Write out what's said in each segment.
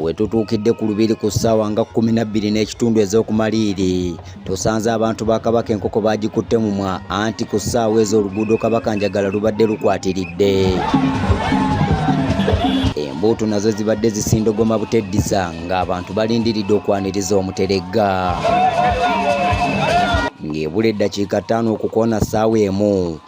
wetutuukidde ku lubiri ku ssaawa nga kkumi na bbiri n'ekitundu ez'okumaliiri tusanze abantu ba kabaka enkoko baagikutte mumwa anti ku ssaawa ezo oluguudo kabaka njagala lubadde lukwatiridde embuutu nazo zibadde zisindogoma buteddiza ng'abantu balindiridde okwaniriza omuteregga ng'ebula eddakiika ttaano okukoona ssaawa emu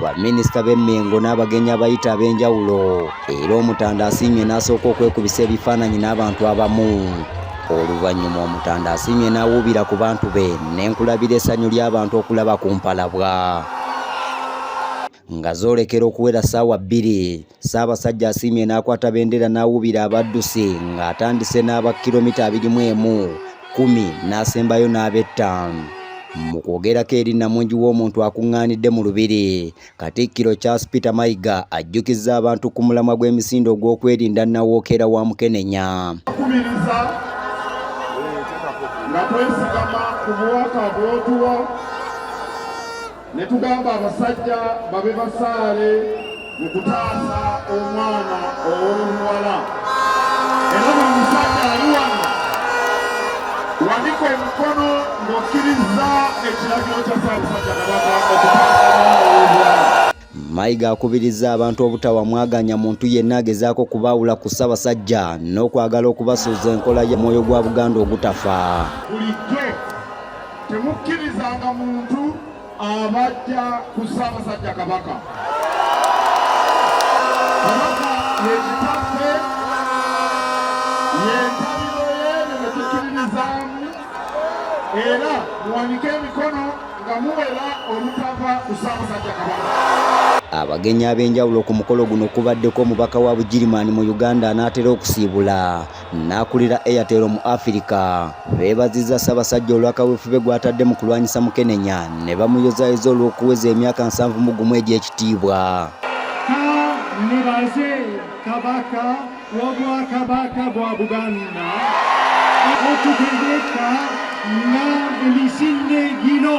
baminisita b'e Mengo n'abagenyi abayita ab'enjawulo era Omutanda asiimye n'asooka okwekubisa ebifaananyi n'abantu abamu oluvannyuma Omutanda asiimye n'awuubira ku bantu be n'enkulabira essanyu ly'abantu okulaba ku mpalabwa nga zoolekera okuwera ssaawa bbiri Ssaabasajja asiimye n'akwata bendera n'awubira abaddusi ng'atandise n'aba kilomita abiri mu emu kkumi n'asembayo n'abettaano mu kwogerako eri namungi w'omuntu akuŋŋaanidde mu lubiri katikkiro charles peter mayiga ajjukizza abantu ku mulamwa gw'emisinde ogw'okwerinda nawookeera wa mukenenya kubiriza nga twesigama ku bubaka bwotuwa ne tugamba abasajja babe basaale mu kutaasa omwana ow'omuwala era buli musajja ali wano wanika omukono ng'okkirizza ekiragiro kya ssaabasajja kabaka okutaasa Mayiga akubirizza abantu obutawa mwaganya muntu yenna agezaako kubaawula ku Ssabasajja n'okwagala okubasuuza enkola ya mwoyo gwa Buganda ogutafa. Temukkirizanga muntu abajja ku Ssaabasajja Kabaka. Kabaka ye kitaffe, ye ntabiro y'ebyo bye tukkiririzaamu, era muwanike emikono nga muwera olutava ku Ssaabasajja Kabaka. Abagenyi ab'enjawulo ku mukolo guno kubaddeko omubaka wa Bugirimaani mu Uganda anaatera okusiibula n'akulira Airtel mu Afirika beebazizza Ssaabasajja olwa kaweefube gw'atadde mu kulwanyisa mukenenya ne bamuyozaayoza olw'okuweza emyaka nsanvu mu gumu egy'ekitiibwa nibaze kabaka w'obwakabaka bwa buganda okutegeka nga emisinde gino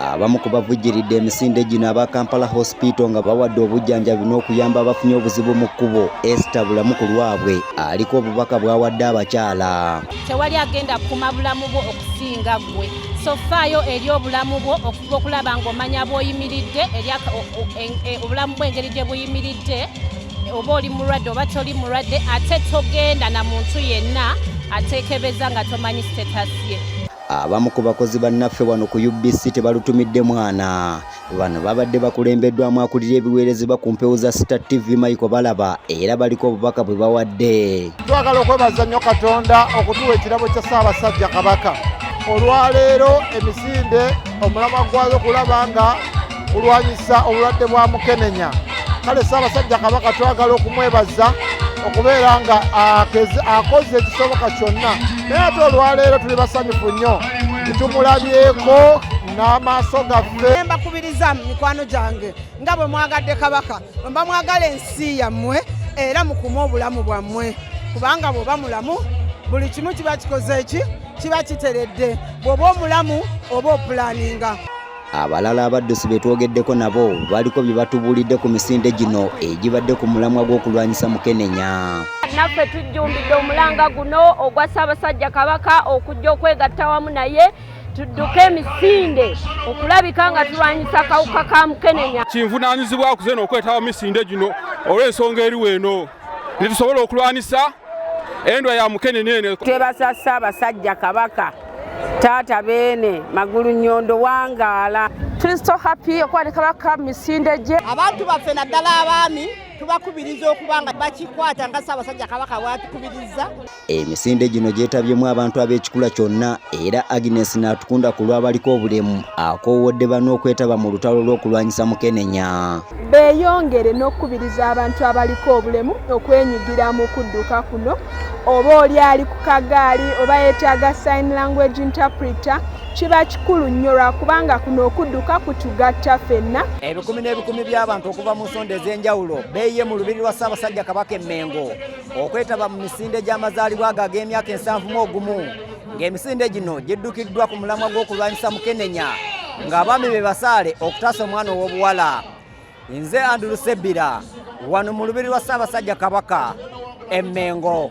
Abamu ku bavujjiridde emisinde gino aba Kampala Hospital nga bawadde obujjanjabi n'okuyamba abafunye obuzibu mu kkubo Esther Bulamu ku lwabwe aliko obubaka bw'awadde abakyala. Tewali agenda kukuma bulamu bwo okusinga ggwe so faayo eri obulamu bwo okuba okulaba ng'omanya bw'oyimiridde e, e, obulamu bw'engeri gye buyimiridde oba oli mulwadde oba toli mulwadde ate togenda na muntu yenna atekebeza nga tomanyi status ye abamu ku bakozi bannaffe wano ku UBC tebalutumidde mwana bano babadde bakulembeddwamu akulira ebiweerezebwa ku mpewo za Star TV Michael Balaba era baliko obubaka bwe bawadde twagala okwebaza nnyo Katonda okutuwa ekirabo kya Ssaabasajja Kabaka olwaleero emisinde omulamwa gwayo kulaba nga kulwanyisa obulwadde bwa mukenenya kale ssaabasajja kabaka twagala okumwebaza okubeera nga akoze ekisoboka kyonna naye ate olwaleero tuli basanyufu nnyo ntitumulabyeko n'amaaso gaffe mbakubiriza mu mikwano gyange nga bwe mwagadde kabaka mba mwagala ensi yammwe era mukume obulamu bwammwe kubanga bw'oba mulamu buli kimu kiba kikoze ki kiba kiteredde bw'oba omulamu oba opulaninga Abalala abaddusi be twogeddeko nabo baliko bye batubuulidde ku misinde gino egibadde ku mulamwa gw'okulwanyisa mukenenya. naffe tujjumbidde omulanga guno ogwa ssaabasajja kabaka okujja okwegatta wamu naye tudduke emisinde okulabika nga tulwanyisa kawuka ka mukenenya kinvunaanyizibwa kuzena okwetaba misinde gino olw'ensonga eriwo eno netusobola okulwanisa endwa ya mukenene eno twebasa ssaabasajja kabaka taata beene magulu nyondo wangaala kristo happy okuba ne kabaka misinde gye abantu baffe naddala abaami tubakubiriza okuba nga bakikwata nga ssaabasajja kabaka bwatukubiriza Emisinde gino gyetabyemu abantu ab'ekikula kyonna era Agnes Natukunda ku lw'abaliko obulemu akoowodde bano okwetaba mu lutalo lw'okulwanyisa mukenenya. Beeyongere n'okukubiriza abantu abaliko obulemu okwenyigira mu kudduka kuno oba oli ali ku kagaali oba yeetaaga sign language interpreter kiba kikulu nnyo lwakubanga kuno okudduka kutugatta fenna ebikumi n'ebikumi by'abantu okuva mu nsonda ez'enjawulo beeyiye mu lubiri lwa ssaabasajja kabaka emmengo okwetaba mu misinde gy'amazaalibwa ago ag'emyaka ensanvu mu ogumu ng'emisinde gino giddukiddwa ku mulamwa gw'okulwanyisa mukenenya ng'abaami be basaale okutaasa omwana ow'obuwala nze andulu sebbira wano mu lubiri lwa ssaabasajja kabaka emmengo